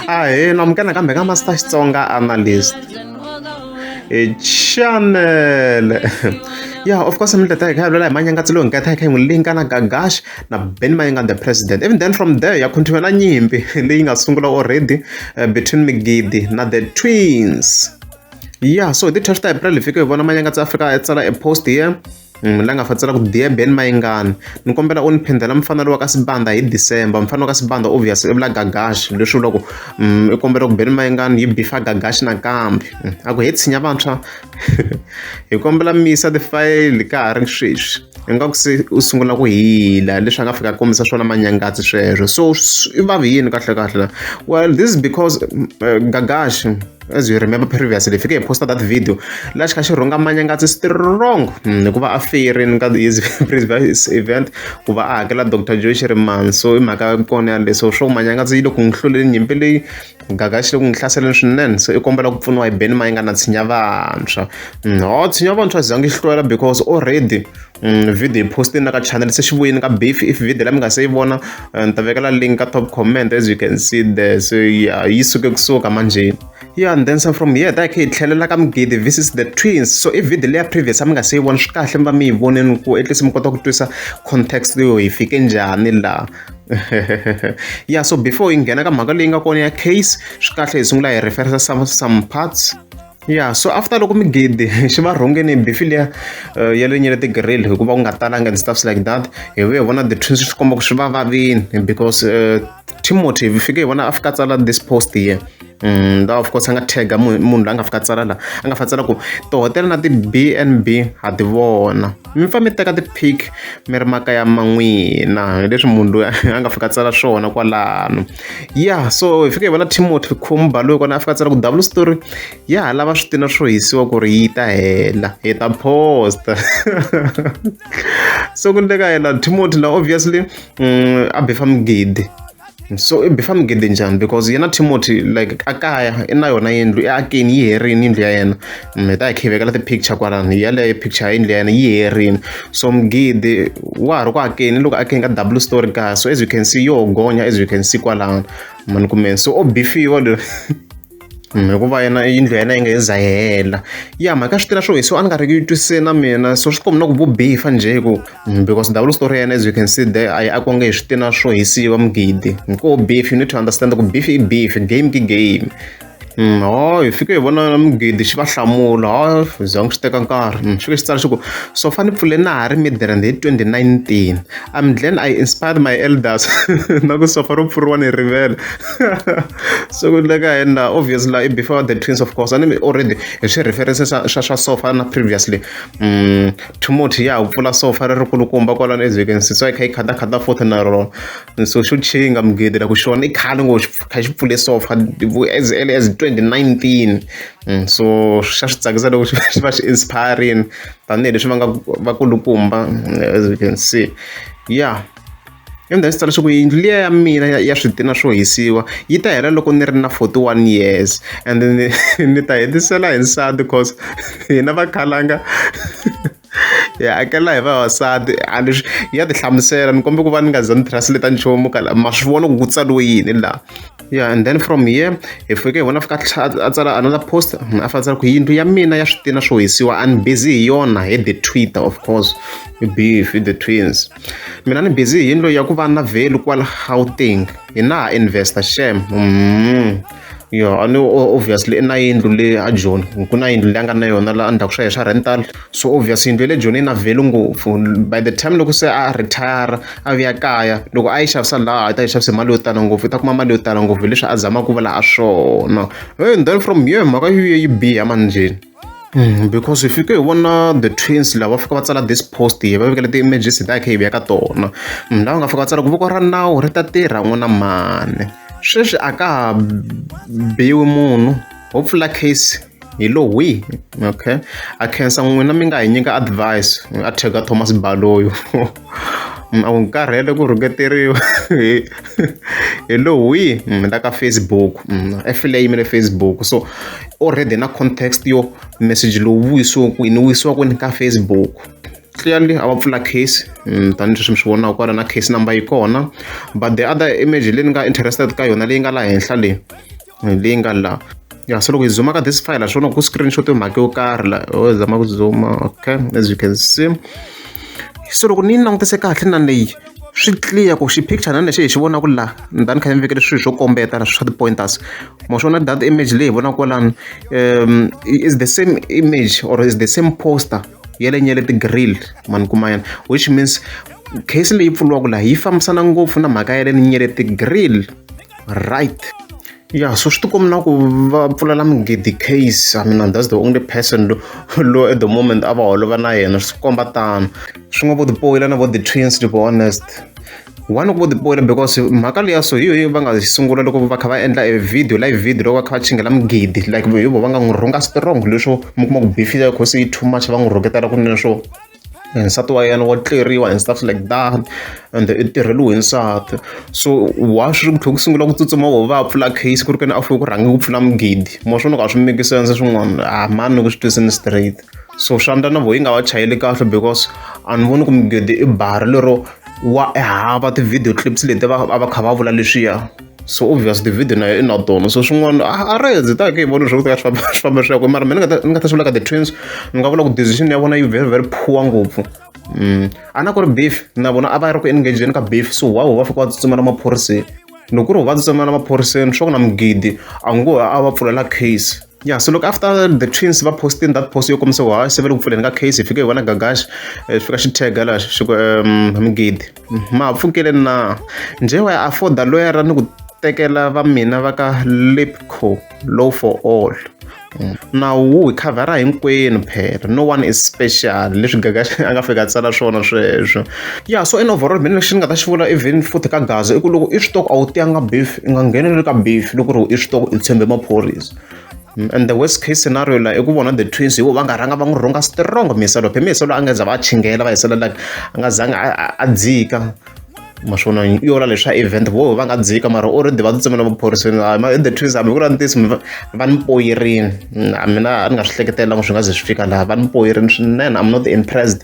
ahee namukela kambe ka master xitsonga analyst hi chanele ya of course mi tata hi kha vulela hi manyangatsi lowu nkata hi kha hi n'wi linka na gagash na ben mayinga the president even then from there ya continue na nyimpi leyi nga sungula already uh, between migidi na the twins ya so hi ti-twelve ta april hi fike hi vona manyangatsi afrika ya tsala e post here Mm, la nga fatsela ku diya ben mayingani ni kombela u ni phendela mufana lowa ka sibanda hi december mufana wa ka sibanda obvious i vula gagashi leswi vula ku mm, i kombela ku ben mayingani yi bifa gagashi nakambe mm, a ku he tshinya vantshwa hi kombela misa tifayili ka ha ri sweswi ingaku se u sungula ku hila leswi a nga fika kombisa swona manyangatsi sweswo so i vavi yini kahlekahle well this is because uh, gagashi as you remember previously fike hi posta that video laha xi kha xi rhunga manyangatsi strong hmm, hikuva a feyerini ka his previous event ku va a hakela dr joy xi ri mani so i mhaka kona yaleyo so swo manyangatsi yi le ku n'wi hluleli nyimpi leyi gaga xi le ku n'wi hlaseleni swinene so i kombela ku pfuniwa hi beni ma yi nga na tshinya vantshwa hmm, ho tshinya vantshwa zangi yi hlwela because already Mm, video yi poste na ka channel se xi vuyini ka beef if video la mi nga se yi vona eh, ni ta vekela link ka top comment as you can see there so yeah, yi suke kusuka manjeni yeah and then some from here that khe hi tlhelela ka mugidi this is the twins so i video leya previous a mi nga se yi vona swi kahle mi va mi yi voneni ku at least mi kota ku twisa context yo hi fike njhani laha ya so before hi nghena ka mhaka leyi nga kona ya case swi kahle hi sungula hi referensa some, some parts ya so after loko migidi xi va rhongeni bifi liya eh, ya le nyele tigirili hikuva ku nga talanga and stuffs like that hi vuye hi vona the twins swi komba ku swi va vavini because uh, timothy hi fike hi vona a fika tsala this post here mm, of course a nga tagga munhu la nga fika tsala la a nga fa tsala ku tihotela na ti-b n b ha ti vona mi fa mi teka ti-pic mi ri makaya man'wina leswi munhu loyi a nga fika tsala swona kwalano ya so hi fika hi vona timothy khumba loyi kona a fika tsala ku double story ya ha lava swi tina swo hisiwa ku ri yi ta hela hi ta posta so ku ndleka yena timothy la obviously um a befa migidi so i befa migidi njhani because yena timothy like a kaya i na yona yindlu i akeni yi herini yindlu ya yena mi ta hi kha hi vekela ti-picture kwalano hi yaleyo picture yini leyana yi herini so mugidi wa ha ri ku akeni loko akeni ka double story kaya so as you can see yo gonya as you can see kwalano mani kumeni so o bifiwa loyi hikuva yena yindlu ya yena yi nga yi za hela ya mhaka swi tela swo hisiwa a ni nga ri ku yi twisise na mina so swi kombi na ku vubifa njhe ku mm, because double story ya yena as you can see there a yi akonge hi switina swo hisiwa mugidi hikuva beef you need to understand ku beef i beef game ki game hi fike hi vona mugidi xi va hlamula hi za swi teka nkarhi xi fike xi tsala xi ku so fane ni pfule na ha ri midrand hi twenty nineteen I'm glad I inspired my elders na ku sofa ro pfuriwa ni rivele so ku le ka hina obviously la before the twins of course a ni already hi swi reference swa swa swa sofa na previously Timothy ya ha pfula sofa ri ri kulukumba kwalano evhekini sitsa yi kha yi khata khata futhi na rona. so xo chinga mugede la ku xona i khale ngo kha xi pfule so far as early as 2019 mm, so xa swi tsakisa loko xi va xi inspiring tanihileswi va nga vakulukumba mm, as you can see yeah yona ndzi tsala leswaku yindlu liya ya mina ya switina swo hisiwa yi ta hela loko ni ri na 41 years and ni ta hetisela hi nsati cause hina vakhalanga hi hakela hi vavasati a ni swi ya ti hlamusela ni kombela ku va ni nga za ni translate nchumu ka ma swi vona ku ku tsariwe yini laha yeah and then from here hi fike hi vona fika a tsala another post a fa tsala ku yindlu ya mina ya switina swo hisiwa a ni busy hi yona hi the twitter of course beef the twins mina ni busy hi yindlu ya ku va na value kwala gauteng hi na ha investor shem mm. yo a ni obviously i na yindlu le a joni ku na yindlu leyi a nga na yona la endzhaku swa ye swa rental so obvious yindlu ya le joni yi na value ngopfu by the time loko se a retire a vuya kaya loko a yi xavisa laha a yi ta yi xavise mali yo tala ngopfu u ta kuma mali yo tala ngopfu hileswi a zamaka ku vula ha swona he then from yo mhaka yo yi biha manjheni. because hi fike hi vona the twins lava va fika va tsala this post hi va vekela ti-images hi ta hi kha hi vuya ka tona munhu lava nga fika va tsala ku voko ra nawu ri ta tirha n'wina mani sweswi a ka ha biwi munhu ho pfula case hi lo wihi okay a khensa n'wina mi nga hi nyika advice a thega thomas baloyo a wu karhele ku rhuketeriwa hi hi lowu wihi ni la ka Facebook efile yimele Facebook so already na context yo message lowu vuyisiwa kwini vuyisiwa kwini ka Facebook clearly a va pfula case mm, tanihileswi mi swi vonaka kwala na case number yi kona but the other image leyi ni nga interested ka yona leyi nga laha henhla leyi leyi nga la ya so loko hi zuma ka this file swona ku screenshot yo mhaka yo karhi la ho oh, zama ku zuma okay as you can see so loko ni langutise kahle na leyi swi clear ku xi picture na lexi hi xi vonaka la ndani kha ni vekele swilo swo kombeta na swa ti-pointers mo swona that image leyi hi vonaka kwalani um is the same image or is the same poster yelenyele ti-grill mani kuma yena which means case leyi pfuriwaka laha yi fambisana ngopfu na mhaka ya le ni nyele ti-grill right ya so swi tikombi na ku va pfulela migidi case i mean that's the only person lo at the moment a va holova na yena swi komba tano swi nga vo tipoyila na vo the twins to be honest one ku tipoyila because mhaka leya so hi yoyo va nga sungula loko va kha va endla e video live video loko va kha va chingela mugidi like hi vo va nga n'wi rhunga strong leswo mi kuma ku bifile cause yi too much va n'wi rhuketela kunene swo nsati wa yena wa tleriwa and stuff like that and i tirheliwe hi nsati so wa swi ku tlhe ku sungula ku tsutsuma vo va pfula case ku ri kena a fuke ku rhange ku pfula mugidi mo swona ka swi make sense swin'wana a ah, mani ku swi twisini straight so swa ndla na vo yi nga va chayeli kahle because a ni voni ku mugidi i bara lero wa ehava ti-video clips leti va va kha va vula leswiya so obvious david nayo i na tona so swin'wana a ra hezitaka hi vona leswaku swi famba swi famba swi ya kwe mara mina ni nga ta swi vula ka the twins ni nga vula ku decision ya vona yi very very poor ngopfu um a na ku ri beef na vona a va ri ku engageni ka beef so wawo va fika va tsutsumela maphoriseni loko ku ri va tsutsumela maphoriseni swa ku na mugidi a ngo a va pfulela case ya so loko after the twins va posting that post yo kombisa wa se va le ku pfuleni ka case hi fike hi vona gagaxi eh, swi fika xi tega laha xi ku um migidi ma ha pfukele na njhe wa ya afforda loyara ni ku tekela va mina va ka lipco low for all mm. nawu wu hi khavhara hinkwenu phela no one is special leswi gagaxi a nga fika a tsala swona sweswo ya so in overall mina lexi ni nga ta xi vula even futhi ka gaza i ku loko i swi toko a wu tiyanga beef i nga ngheneleli ka beef loko ri i swi toko i tshembe maphorisa mm, and the worst case scenario la i ku vona the twins hivo va nga rhanga va n'wi rhunga strong miselo phe miselo a nga za va chingela va hisela like a nga zangi a dzika maswona yola leswa event vo va nga dzika mara o rindi va tsutsumela vuphoriseni the twins hambi ku ri ntisi va ni poyirini mm, mina a ni nga swi hleketelanga swi nga ze swi fika laha va ni poyirini swinene i'm not impressed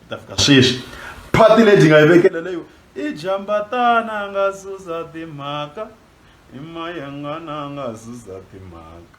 hi ta fika sweswi phati leyi byi nga yi vekela leyo i jambatana a nga susa timhaka i mayengana a nga susa timhaka